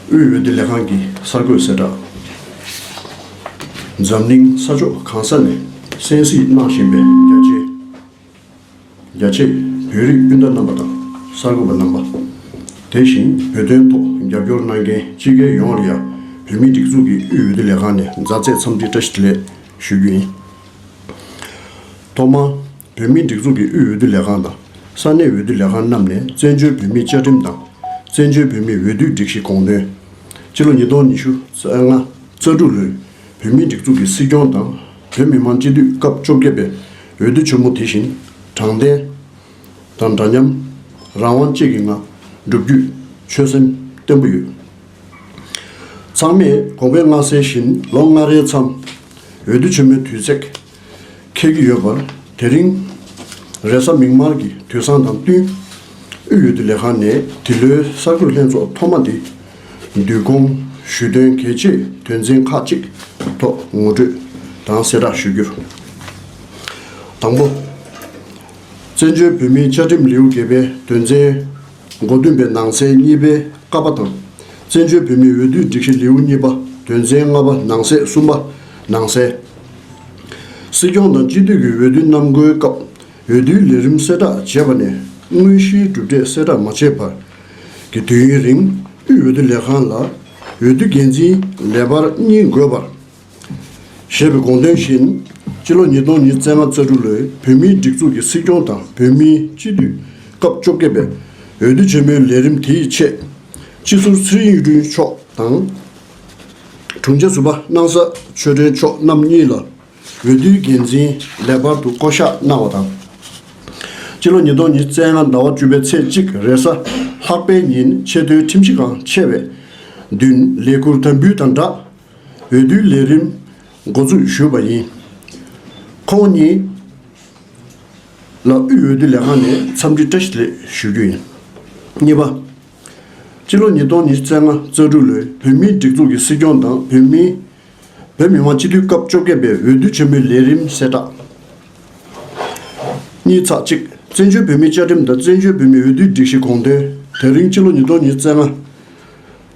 དབུས་འོས་བསྡུ་ལས་ཁང་གི་གསར་འགོད་གསལ་བསྒྲགས། འཛམ་གླིང་ས་ཕྱོགས་གང་ས་ནས་གསན་གཟིགས་གནང་བཞིན་པའི་རྒྱ་ཆེ་རྒྱ་ཆེ་བོད་རིགས་སྤུན་ཟླ་རྣམ་པ་དང་གསར་འགོད་པ་རྣམ་པ། དེ་བཞིན་བོད་དོན་ཐོག་རྒྱབ་སྐྱོར་གནང་མཁན་སྤྱི་སྒེར་ཡོངས་ལ་ཡང་བོད་མིའི་སྒྲིག་འཛུགས་ཀྱི་དབུས་འོས་བསྡུ་ལས་ཁང་ནས་མཛའ་བརྩེ་འཚམས་འདྲི་བཀྲ་ཤིས་བདེ་ལེགས་ཞུ་རྒྱུ་ཡིན། ཐོག་མར། བོད་མིའི་སྒྲིག་འཛུགས་ཀྱི་དབུས་འོས་བསྡུ་ལས་ཁང་དང་ས་གནས་འོས་བསྡུ་ལས་ཁང་རྣམས་ནས་བཙན་བྱོལ་བོད་མིའི་བཅའ་ཁྲིམས་དང། བཙན་བྱོལ་བོད་མིའི་འོས་བསྡུའི་སྒྲིག་གཞི་དགོངས་དོན། སྤྱི་ལོ་ཉིས་སྟོང་ཉི་ཤུ་རྩ་ལྔ་རྩ་དྲུག་ལོའི་བོད་མིའི་སྒྲིག་འཛུགས་ཀྱི་སྲིད་སྐྱོང་དང་བོད་མི་མང་སྤྱི་འཐུས་སྐབས་བཅོ་བརྒྱད་པའི་འོས་བསྡུ་ཆེན་མོ་དེ་བཞིན་དྲང་བདེན། དང་འདྲ་མཉམ། རང་དབང་བཅས་ཀྱི་ངང་བསྒྲུབ་རྒྱུའི་ཆོད་སེམས་བརྟན་པོ་ཡོད། ཚང་མས་དགོངས་པའི་མངའ་གསལ་བཞིན་ལོ་ལྔ་རེའི་མཚམས་འོས་བསྡུ་ཆེན་མོའི་དུས་ཚེགས། འཁེལ་གྱི་ཡོད་པ་དེ་རིང་རེས་གཟའ་མིག་དམར་གྱི་དུས་བཟང་དང་བསྟུན་དབུས་ཡུལ་བདེ་ལེགས་ཁང་ནས་འདི་ལོའི་གསར་འགོད་ལྷན་ཚོགས་ཐོག་མ་འདི་བསྡུས་སྐོང་ཞུས་དོན་གལ་ཆེ་དོན་ཚན་ཁག་ཅིག་ཐོག་ངོ་སྤྲོད་དང་གསལ་བསྒྲགས་ཞུ་རྒྱུ། དང་པོ། བཙན་བྱོལ་བོད་མིའི་བཅའ་ཁྲིམས་ལེའུ་བརྒྱད་པའི་དོན་ཚན། མགོ་བདུན་པའི་ནང་ཚན་གཉིས་པའི་བཀའ་པ་དང། བཙན་བྱོལ་བོད་མིའི་འོས་བསྡུའི་སྒྲིག་གཞི་ལེའུ་གཉིས་པ་དོན་ཚན་ལྔ་པ་ནང་གསེས་གསུམ་པ་ནང་གསལ། སྲིད་སྐྱོང་དང་སྤྱི་འཐུས་ཀྱི་འོས་བསྡུ་གནམ་བསྐོའི་སྐབས་འོས་བསྡུའི་ལས་རིམ་གསལ་བསྒྲགས་བྱས་པ་ནས་དངོས་གཞིའི་གྲུབ་འབྲས་གསལ་བསྒྲགས་མ་བྱས་བར་གྱི་དུས་ཡུན་རིང་དབུས་འོས་བསྡུ་ལས་ཁང་ལ་འོས་བསྡུ་འགན་འཛིན་ལས་འབར་གཉིས་འགོད་པར་ཞེས་པའི་དགོངས་དོན་བཞིན་སྤྱི་ལོ་ཉིས་སྟོང་ཉིས་བརྩེགས་ལྔ་རྩ་དྲུག་ལོའི་བོད་མིའི་སྒྲིག་འཛུགས་ཀྱི་སྲིད་སྐྱོང་དང་བོད་མིའི་སྤྱི་འཐུས་སྐབས་བཅོ་བརྒྱད་པའི་འོས་བསྡུ་ཆེན་མོའི་ལས་རིམ་དེའི་ཆེད། སྤྱི་ཟུར་ཚེ་རིང་གཡུ་སྒྲོན་མཆོག་དང། དྲུང་ཆེ་ཟུར་པ་སྣང་ས་ཆོས་སྒྲོན་མཆོག་རྣམ་གཉིས་ལ་འོས་བསྡུའི་འགན་འཛིན་ལེགས་པར་དུ་བསྐོ་གཞག་གནང་བ་དང། སྤྱི་ལོ་ཉིས་སྟོང་ཉིས་བརྩེགས་ལྔ་ཟླ་བ་བཅུ་པའི་ཚེས་གཅིག་རེས་གཟའ་ལྷག་པའི་ཉིན་ཆེས་མཐོའི་ཁྲིམས་གཞི་ཁང་ཕྱེ་བའི་མདུན་ལས་ཁུར་དམ་འབུལ་དང་སྦྲགས་འོས་བསྡུའི་ལས་རིམ་འགོ་འཛུགས་ཞུས་པ་ཡིན། ཁོང་གཉིས་ལ་དབུས་འོས་བསྡུ་ལས་ཁང་ནས་འཚམས་འདྲི་བཀྲ་ཤིས་ལེགས་ཞུ་རྒྱུ་ཡིན། གཉིས་པ། སྤྱི་ལོ་ཉིས་སྟོང་ཉིས་བརྩེགས་ལྔ་རྩ་དྲུག་ལོའི་བོད་མིའི་སྒྲིག་འཛུགས་ཀྱི་སྲིད་སྐྱོང་དང་བོད་མི་བོད་མི་མང་སྤྱི་འཐུས་སྐབས་བཅོ་བརྒྱད་པའི་འོས་བསྡུ་ཆེན་མོའི་ལས་རིམ་གསལ་བསྒྲགས། གཉིས་ཚགས་གཅིག་བཙན་བྱོལ་བོད་མིའི་བཅའ་ཁྲིམས་དང་བཙན་བྱོལ་བོད་མིའི་འོས་བསྡུའི་སྒྲིག་གཞི་དགོངས་དོན་དེ་རིང་སྤྱི་ལོ་ཉིས་སྟོང་ཉིས་བརྩེགས་ལྔ་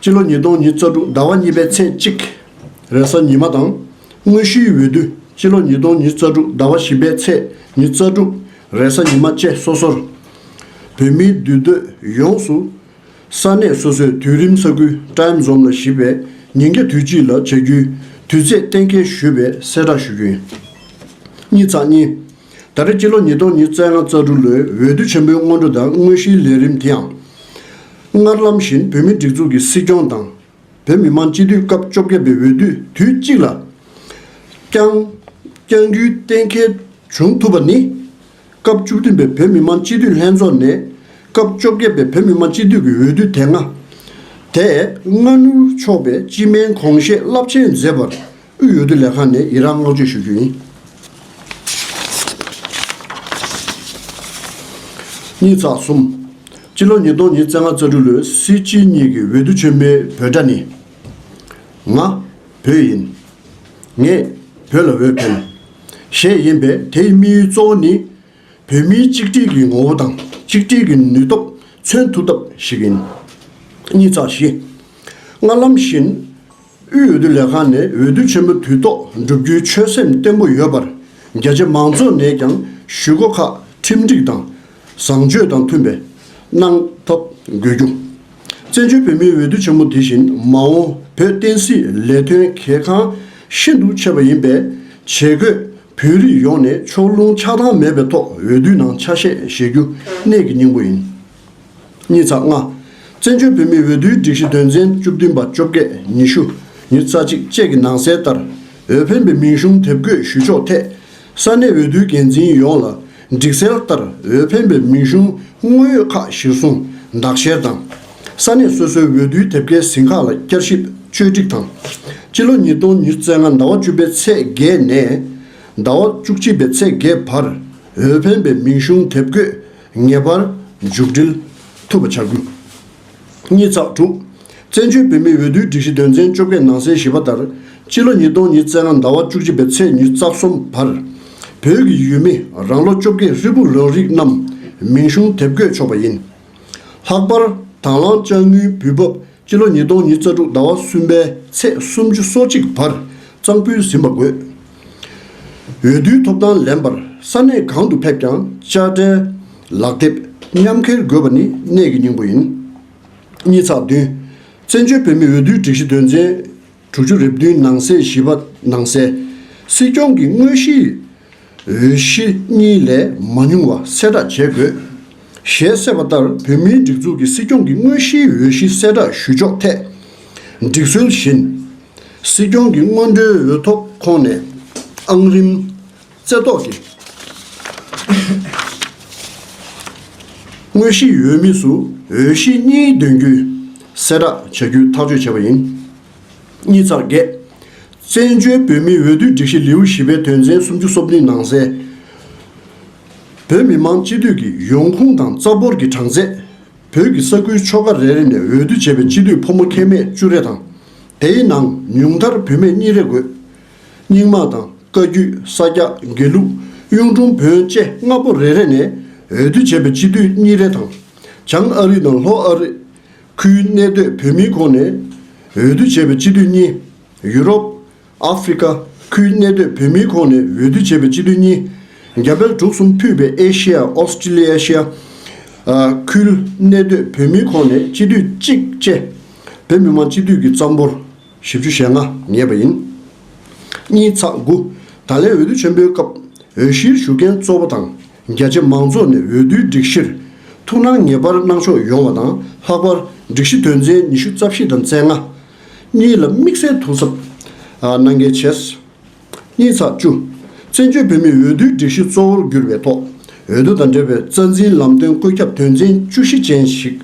སྤྱི་ལོ་ཉིས་སྟོང་ཉིས་བརྩ་དྲུག་ཟླ་བ་གཉིས་པའི་ཚེས་གཅིག། རེས་གཟའ་ཉི་མ་དང། དངོས་གཞིའི་འོས་བསྡུ་སྤྱི་ལོ་ཉིས་སྟོང་ཉིས་བརྩ་དྲུག་ཟླ་བ་བཞི་པའི་ཚེས་ཉིས་བརྩ་དྲུག། རེས་གཟའ་ཉི་མ་བཅས་སོ་སོར། བོད་མིའི་འདུས་སྡོད་ཡོངས་སུ། ས་གནས་སོ་སོའི་དུས་རིམ་ས་ཁུལ Time Zone ལ་གཞིགས་པའི་ཉིན་གྱ་དུས་གཅིག་ལ་བྱ་རྒྱུའི་དུས་ཚེས་གཏན་འཁེལ་ཞུས་པའི་གསལ་བསྒྲགས་ཞུ་རྒྱུ་ཡིན། གཉིས་ཚགས་གཉིས། ད་ལྟ་སྤྱི་ལོ་ཉིས་སྟོང་ཉིས་བརྩེགས་ལྔ་རྩ་དྲུག་ལོའི་འོས་བསྡུ་ཆེན་པོའི་སྔོན་འགྲོ་དང་དངོས་གཞིའི་ལས་རིམ་དེ་ཡང། སྔར་ལམ་བཞིན་བོད་མིའི་སྒྲིག་འཛུགས་ཀྱི་སྲིད་སྐྱོང་དང། བོད་མི་མང་སྤྱི་འཐུས་སྐབས་བཅོ་བརྒྱད་པའི་འོས་བསྡུ་དུས་གཅིག་ལ་བསྐྱངས་རྒྱུའི་གཏན་འཁེལ་བྱུང་ཐུབ་པ་ནི། སྐབས་བཅུ་བདུན་པའི་བོད་མི་མང་སྤྱི་འཐུས་ལྷན་ཚོགས་ནས་སྐབས་བཅོ་བརྒྱད་པའི་བོད་མི་མང་སྤྱི་འཐུས་ཀྱི་འོས་བསྡུ་དེ་སྔ་དེ་སྔ་སྣུར་ཆོག་པའི་སྤྱི་སྨན་གོང་བཞེས་རླབས་ཆེན་མཛད་པར། དབུས་འོས་བསྡུ་ལས་ཁང་ནས་ཡི་རངས་བསྔགས་བརྗོད་ཞུ་རྒྱུ་ཡིན། གཉིས་ཚགས་གསུམ། སྤྱི་ལོ་ཉིས་སྟོང་ཉིས་བརྩེགས་ལྔ་རྩ་དྲུག་ལོའི་སྲིད་སྤྱི་གཉིས་ཀྱི་འོས་བསྡུ་ཆེན་མོའི་བོད་སྒྲ་ནི། ང། བོད་ཡིན། ངས། བོད་ལ་འོས་འཕེན། ཞེས་ཡིན་པས་དེའི་དམིགས་ཡུལ་གཙོ་བོ་ནི། བོད་མིའི་གཅིག་སྒྲིལ་གྱི་ངོ་བོ་དང་གཅིག་སྒྲིལ་གྱི་ནུས་སྟོབས་མཚོན་ཐུབ་ཐབས་ཤིག་ཡིན། གཉིས་ཚགས་བཞི། སྔར་ལམ་བཞིན། དབུས་འོས་བསྡུ་ལས་ཁང་ནས་འོས་བསྡུ་ཆེན་མོ་དུས་ཐོག་འགྲུབ་རྒྱུའི་ཆོད་སེམས་བརྟན་པོ་ཡོད་པར་རྒྱ་ཆེ་མང་ཚོགས་ནས་ཀྱང་ཞུ་སྒོ་ཁག་ཁྲིམས་སྒྲིག་དང་བཟང་སྤྱོད་དང་མཐུན་པའི་གནང་ཐབས་དགོས་རྒྱུ། བཙན་བྱོལ་བོད་མིའི་འོས་བསྡུ་ཆེན་མོ་དེ་བཞིན་མ་འོངས་བོད་བསྟན་སྲིད་ལས་དོན་གལ་འགངས་ཤིན་ཏུ་ཆེ་བ་ཡིན་པས་བྱེས་རྒོད་བོད་རིགས་ཡོངས་ནས་ཕྱོགས་ལྷུང་ཆགས་སྡང་མེད་པའི་ཐོག་འོས་བསྡུའི་ནང་ཆ་ཤས་བཞེས་རྒྱུ་གནད་ཀྱི་སྙིང་པོ་ཡིན། ཉིས་རྩ་ལྔ། བཙན་བྱོལ་བོད་མིའི་འོས་བསྡུའི་སྒྲིག་གཞི་དོན་ཚན་བཅུ་བདུན་པ་བཅོ་བརྒྱད་ཉི་ཤུ་ཉིས་རྩ་གཅིག་བཅས་ཀྱི་ནང་གསལ་ལྟར། འོས་འཕེན་པའི་མིང་གཞུང་དེབ་འགོད་ཞུ་ཕྱོགས་ཐད། ས་གནས་འོས་བསྡུའི་འགན་འཛིན་ཡོངས་ལ་སྒྲིག་གསལ་ལྟར་འོས་འཕེན་པའི་མིང་གཞུང་དངོས་ཡོད་ཁག་གཞིར་བཟུང་བདག་གཞལ་དང། ས་གནས་སོ་སོའི་འོས་བསྡུའི་དེབ་སྐྱེལ་ཟིན་ཁག་ལ་བསྐྱར་ཞིབ་བཅོས་སྒྲིག་དང། སྤྱི་ལོ་ཉིས་སྟོང་ཉིས་བརྩེགས་ལྔ་ཟླ་བ་བཅུ་པའི་ཚེས་བརྒྱད་ནས། ཟླ་བ་བཅུ་གཅིག་པའི་ཚེས་བརྒྱད་བར་འོས་འཕེན་པའི་མིང་གཞུང་དེབ་འགོད་ངེས་པར་མཇུག་སྒྲིལ་ཐུབ་པ་བྱ་དགོས། གཉིས་བརྩེགས་དྲུག། བཙན་བྱོལ་བོད་མིའི་འོས་བསྡུའི་སྒྲིག་གཞི་དོན་ཚན་བཅོ་བརྒྱད་ནང་གསལ་བཞེས་པ་ལྟར་སྤྱི་ལོ་ཉིས་སྟོང་ཉིས་བརྩེགས་ལྔ་ཟླ་བ་བཅུ་གཅིག་པའི་ཚེས་ཉེར་རྩ་གསུམ་བར། བོད་ཀྱི་ཡུལ་མི་རང་ལོ་བཅོ་བརྒྱད་ཧྲིལ་པོར་རང་རིགས་རྣམས་མིང་གཞུང་དེབ་འགོད་ཆོག་པ་ཡིན། ལྷག་པར་དང་བླངས་དཔྱ་དངུལ་འབུལ་འབབ་སྤྱི་ལོ་ཉིས་སྟོང་ཉིས་རྩ་དྲུག་ཟླ་བ་གསུམ་པའི་ཚེས་སུམ་ཅུ་སོ་གཅིག་བར་གཙང་ཕུལ་ཟིན་པ་དགོས། འོས་བསྡུའི་ཐོབ་ཐང་ལེན་པར་ས་གནས་གང་དུ་ཕེབས་ཀྱང་དཔྱ་ཁྲལ། ལག་དེབ་མཉམ་འཁྱེར་དགོས་པ་ནི་གནད་ཀྱི་སྙིང་པོ་ཡིན། གཉིས་ཚགས་བདུན། བཙན་བྱོལ་བོད་མིའི་འོས་བསྡུའི་སྒྲིག་གཞི་དོན་ཚན་དྲུག་ཅུ་རེ་བདུན་ནང་གསེས་བཞི་པ་ནང་གསལ། སྲིད་སྐྱོང་གི་དངོས་གཞིའི་འོས་གཞི་གཉིས་ལས་མ་ཉུང་བ་གསལ་བསྒྲགས་བྱེད་དགོས། ཞེས་གསལ་བ་ལྟར་བོད་མིའི་སྒྲིག་འཛུགས་ཀྱི་སྲིད་སྐྱོང་གི་དངོས་གཞིའི་འོས་གཞི་གསལ་བསྒྲགས་ཞུ་ཕྱོགས་ཐད། སྒྲིག་སྲོལ་བཞིན། སྲིད་སྐྱོང་གི་སྔོན་འགྲོའི་འོས་ཐོབ་ཁོངས་ནས་ཨང་རིམ། རྩེ་བཏོག་གིས། དངོས་གཞིའི་འོས་མི་སུ་འོས་གཞི་གཉིས་འདོན་རྒྱུའི་གསལ་བསྒྲགས་བྱ་རྒྱུའི་ཐག་གཅོད་བྱས་པ་ཡིན། གཉིས་ཚར་བརྒྱད། བཙན་བྱོལ་བོད་མིའི་འོས་བསྡུའི་སྒྲིག་གཞི་ལེའུ་བཞི་པའི་དོན་ཚན་སུམ་ཅུ་སོ་བདུན་ནང་གསལ། བོད་མི་མང་སྤྱི་འཐུས་ཀྱི་ཡོང་ཁུངས་དང་རྩ་འབོར་གྱི་གྲངས་ཚད། བོད་ཀྱི་ས་ཁུལ་ཆོལ་ཁ་རེ་རེ་ནས་འོས་བསྡུ་བྱས་པའི་སྤྱི་འཐུས་ཕོ་མོ་ཁྱད་མེད་བཅུ་རེ་དང། དེའི་ནང་ཉུང་མཐར་བུད་མེད་གཉིས་རེ་དགོས། རྙིང་མ་དང་བཀའ་བརྒྱུད་ས་སྐྱ་དགེ་ལུགས་གཡུང་དྲུང་བོན་བཅས་ལྔ་པོ་རེ་རེ་ནས་འོས་བསྡུ་བྱས་པའི་སྤྱི་འཐུས་གཉིས་རེ་དང། བྱང་ཨ་རི་དང་ལྷོ་ཨ་རི། ཁུལ་གནས་སྡོད་བོད་མིའི་ཁོངས་ནས་འོས་བསྡུ་བྱས་པའི་སྤྱི་འཐུས་གཉིས། ཡུ་རོབ། ཨ་ཧྥེ་རི་ཁ་ཁུལ་གནས་སྡོད་བོད་མིའི་ཁོངས་ནས་འོས་བསྡུ་བྱས་པའི་སྤྱི་འཐུས་གཉིས། རྒྱ་བལ་འབྲུག་གསུམ་ཕུད་པའི་ཨེ་ཤེ་ཡ Australasia། ཁུལ་གནས་སྡོད་བོད་མིའི་ཁོངས་ནས་སྤྱི་འཐུས་གཅིག་བཅས་བོད་མི་མང་སྤྱི་འཐུས་ཀྱི་རྩ་འབོར་བཞི་བཅུ་ཞེ་ལྔ་ངེས་པ་ཡིན། གཉིས་ཚགས་དགུ། ད་ལན་འོས་བསྡུ་ཆེན་པོའི་སྐབས་འོས་གཞིར་ཞུགས་མཁན་གཙོ་བོ་དང་རྒྱ་ཆེ་མང་ཚོགས་ནས་འོས་བསྡུའི་སྒྲིག་གཞིར་ཐུགས་སྣང་ངེས་པར་གནང་ཕྱོགས་ཡོང་བ་དང་ལྷག་པར་སྒྲིག་གཞི་དོན་ཚན་ཉི་ཤུ་རྩ་བཞི་དང་རྩེ་ལྔ། གཉིས་ལ་དམིགས་བསལ་དོ་གཟབ་གནང་གལ་ཆེ། གཉིས་ཚགས་བཅུ། བཙན་བྱོལ་བོད་མིའི་འོས་བསྡུའི་སྒྲིག་གཞི་གཙོ་བོར་གྱུར་པའི་ཐོག་འོས་བསྡུ་དང་འབྲེལ་བའི་རྩ་འཛིན་ལམ་སྟོན་བཀོད་ཁྱབ་དོན་ཚན་བཅུ་བཞི་ཅན་ཞིག་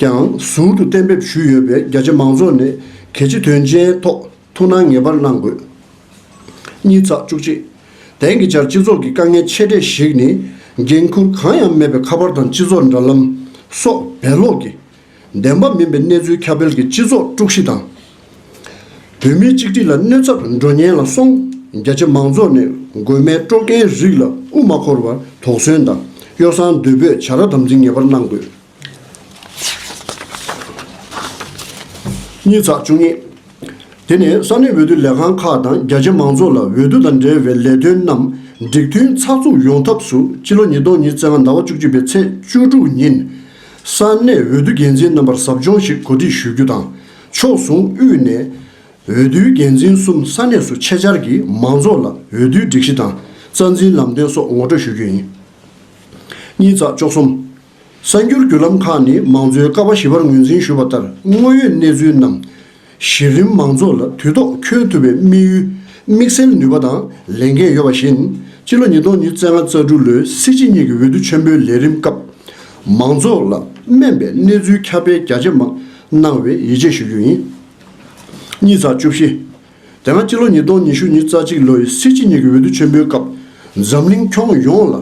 ཀྱང་ཟུར་དུ་གཏན་འབེབས་ཞུས་ཡོད་པས་རྒྱ་ཆེ་མང་ཚོགས་ནས་གལ་ཆེ་དོན་ཆེན་ཐོག་ཐུགས་སྣང་ངེས་པར་གནང་དགོས། གཉིས་ཚགས་བཅུ་གཅིག། དེང་གི་ཆར་སྤྱི་ཚོགས་ཀྱི་དཀའ་ངལ་ཆེ་གྲས་ཤིག་ནི་འགན་འཁུར་གང་ཡང་མེད་པའི་ཁ་པར་དང་སྤྱི་ཚོགས་འདྲ་ལམ་སོགས་བེད་ལོག་གིས་བདེན་པ་མིན་པའི་གནས་ཚུལ་ཁྱབ་སྤེལ་གྱིས་སྤྱི་ཚོགས་དཀྲུག་གཞི་དང། བོད་མིའི་གཅིག་སྒྲིལ་ལ་གནོད་ཚབ་འགྲོ་ཉེན་ལ་སོང་རྒྱ་ཆེ་མང་ཚོགས་ནས་དགོས་མེད་དཀྲོག་རྐྱེན་རིགས་ལ་དབུ་མ་འཁོར་བར་དོགས་ཟོན་དང་གཡོ་བསྲང་བསྡུས་འབོད་བྱ་ར་དམ་འཛིན་ངེས་པར་གནང་དགོས། གཉིས་ཚགས་བཅུ་གཉིས། དེ་ནས་ས་གནས་འོས་བསྡུ་ལས་ཁང་ཁག་དང་རྒྱ་ཆེ་མང་ཚོགས་ལ་འོས་བསྡུ་དང་འབྲེལ་བའི་ལས་དོན་རྣམས་འགྲིག་མཐུན་ཚགས་ཚུགས་ཡོང་ཐབས་སུ་ཕྱི་ལོ་ཉིས་སྟོང་ཉིས་བརྩེགས་ལྔ་ཟླ་བ་བཅུ་གཅིག་པའི་ཚེས་བཅུ་དྲུག་ཉིན་ས་གནས་འོས་བསྡུ་འགན་འཛིན་རྣམ་པར་ཟབ་སྦྱོང་ཞིག་གོ་སྒྲིག་ཞུ་རྒྱུ་དང། ཕྱོགས་ཟུང་དབུས་ནས་འོས་བསྡུའི་འགན་འཛིན་གསུམ་ས་གནས་སུ་ཆེད་བཅར་གྱིས་མང་ཚོགས་ལ་འོས་བསྡུའི་སྒྲིག་གཞི་དང་རྩ་འཛིན་ལམ་སྟོན་སོགས་ངོ་སྤྲོད་ཞུ་རྒྱུ་ཡིན། གཉིས་བརྩེགས་བཅུ་གསུམ། གསར་འགྱུར་བརྒྱུད་ལམ་ཁག་ནི་མང་གཙོའི་ཀ་བ་བཞི་པར་ངོས་འཛིན་ཞུས་པ་ལྟར་དངོས་ཡོད་གནས་ཚུལ་རྣམས་གཞི་རིམ་མང་ཚོགས་ལ་དུས་ཐོག་འཁྱོལ་ཐུབ་པའི་དམིགས་ཡུལ་དམིགས་བསལ་ནུས་པ་དང་ལས་འགན་ཡོད་པ་བཞིན། སྤྱི་ལོ་ཉིས་སྟོང་ཉིས་བརྩེགས་ལྔ་རྩ་དྲུག་ལོའི་སྲིད་སྤྱི་གཉིས་ཀྱི་འོས་བསྡུ་ཆེན་པོའི་ལས་རིམ་སྐབས། མང་ཚོགས་ལ་སྨན་པའི་གནས་ཚུལ་ཁྱབ་སྤེལ་རྒྱ་ཇེ་མང་གནང་བའི་ཡིད་ཆེས་ཞུ་རྒྱུ་ཡིན། གཉིས་ཚགས་བཅུ་བཞི། དེ་སྔ་སྤྱི་ལོ་ཉིས་སྟོང་ཉི་ཤུ་ཉིས་རྩ་གཅིག་ལོའི་སྲིད་སྤྱི་གཉིས་ཀྱི་འོས་བསྡུ་ཆེན་པོའི་སྐབས་འཛམ་གླིང་ཁྱོན་ཡོངས་ལ་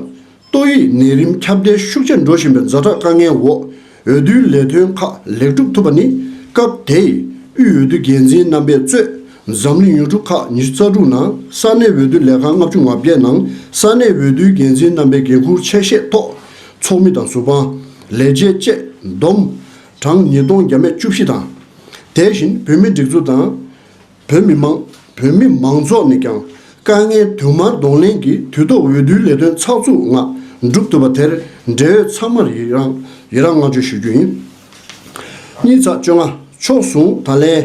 ཏོག་དབྱིབས་ནད་རིམས་ཁྱབ་གདལ་ཤུགས་ཆེར་འགྲོ་བཞིན་པའི་རྫ་དྲག་དཀའ་ངལ་འོག་འོས་བསྡུའི་ལས་དོན་ཁག་ལེགས་གྲུབ་ཐུབ་པ་ནི་སྐབས་དེའི་དབུས་འོས་བསྡུ་འགན་འཛིན་རྣམ་པས་གཙོས་འཛམ་གླིང་ཡུལ་གྲུ་ཁག་ཉི་ཤུ་རྩ་དྲུག་ནང་ས་གནས་འོས་བསྡུ་ལས་ཁང་ལྔ་བཅུ་ང་བརྒྱད་ནང་ས་གནས་འོས་བསྡུའི་འགན་འཛིན་རྣམ་པའི་འགན་ཁུར་ཆད་བཤད་ཐོག་ཚོགས་མི་དང་ཟུར་དཔང། ལས་བྱེད་བཅས་བསྡོམས་གྲངས་ཉིས་སྟོང་བརྒྱ་མེད་བཅུ་བཞི་དང། དེ་བཞིན་བོད་མིའི་སྒྲིག་འཛུགས་དང། བོད་མི་དམངས་བོད་མི་མང་ཚོགས་ནས་ཀྱང་དཀའ་ངལ་དུ་མར་གདོང་ལེན་གྱིས་དུས་ཐོག་འོས་བསྡུའི་ལས་དོན་ཚགས་ཚུགས་ངང་བསྒྲུབ་ཐུབ་པ་དེར་འབྲེལ་ཡོད་ཚང་མར་ཡི་རངས་ཡི་རངས་བསྔགས་བརྗོད་ཞུ་རྒྱུ་ཡིན། གཉིས་ཚགས་བཅོ་ལྔ་ཕྱོགས་ཟུང་ད་ལན།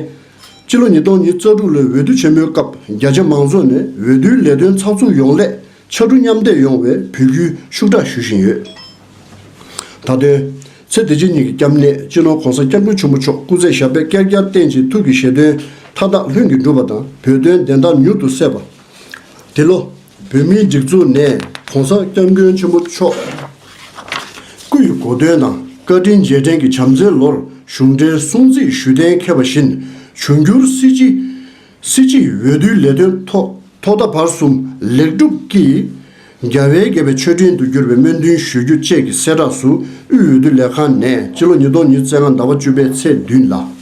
སྤྱི་ལོ་ཉིས་སྟོང་ཉིས་རྩ་དྲུག་ལོའི་འོས་བསྡུ་ཆེན་མོའི་སྐབས་རྒྱ་ཆེ་མང་ཚོགས་ནས་འོས་བསྡུའི་ལས་དོན་ཚགས་ཚུགས་ཡོང་སླད་ཕྱར་གྲུ་མཉམ་འདེགས་ཡོང་བའི་འབོད་སྐུལ་ཤུགས་དྲག་ཞུ་བཞིན་ཡོད། དང་དོན། ཚེ་འདི་ཕྱི་གཉིས་ཀྱི་སྐྱབས་གནས་སྤྱི་ནོར ྋགོང་ས ྋསྐྱབས་མགོན་ཆེན་པོ་མཆོག་སྐུ་ཚེ་ཞབས་པད་བསྐལ་བརྒྱར་བརྟན་ཅིང་ཐུགས་ཀྱི་བཞེད་དོན་མཐའ་དག་ལྷུན་གྱིས་འགྲུབ་པ་དང་བོད་དོན་བདེན་མཐའ་མྱུར་དུ་གསལ་བ། འདི་ལོ། བོད་མིའི་སྒྲིག་འཛུགས་ནས ྋགོང་ས ྋསྐྱབས་མགོན་ཆེན་པོ་མཆོག་སྐུ་ཡི་གོ་སྟོན་དང་བཀའ་དྲིན་རྗེས་དྲན་གྱི་བྱམས་བརྩེའི་ལོར་གཞུང་འབྲེལ་སྲུང་བརྩི་ཞུ་གཏན་འཁེལ་བ་བཞིན་འབྱུང་འགྱུར་སྲིད་སྤྱི་སྲིད་སྤྱི་ཡི་འོས་བསྡུའི་ལས་དོན་ཐོག་ཐོག་མཐའ་བར་གསུམ་ལེགས་འགྲུབ་ཀྱིས་རྒྱལ་བའི་དགྱེས་པའི་མཆོད་སྤྲིན་དུ་གྱུར་པའི་སྨོན་འདུན་ཞུ་རྒྱུ་བཅས་ཀྱི་གསལ་བསྒྲགས་སུ་དབུས་འོས་བསྡུ་ལས་ཁང་ནས་སྤྱི་ལོ་ཉིས་སྟོང་ཉིས་བརྩེགས་ལྔ་ཟླ་བ་བཅུ་པའི་ཚེས་བདུན་ལ།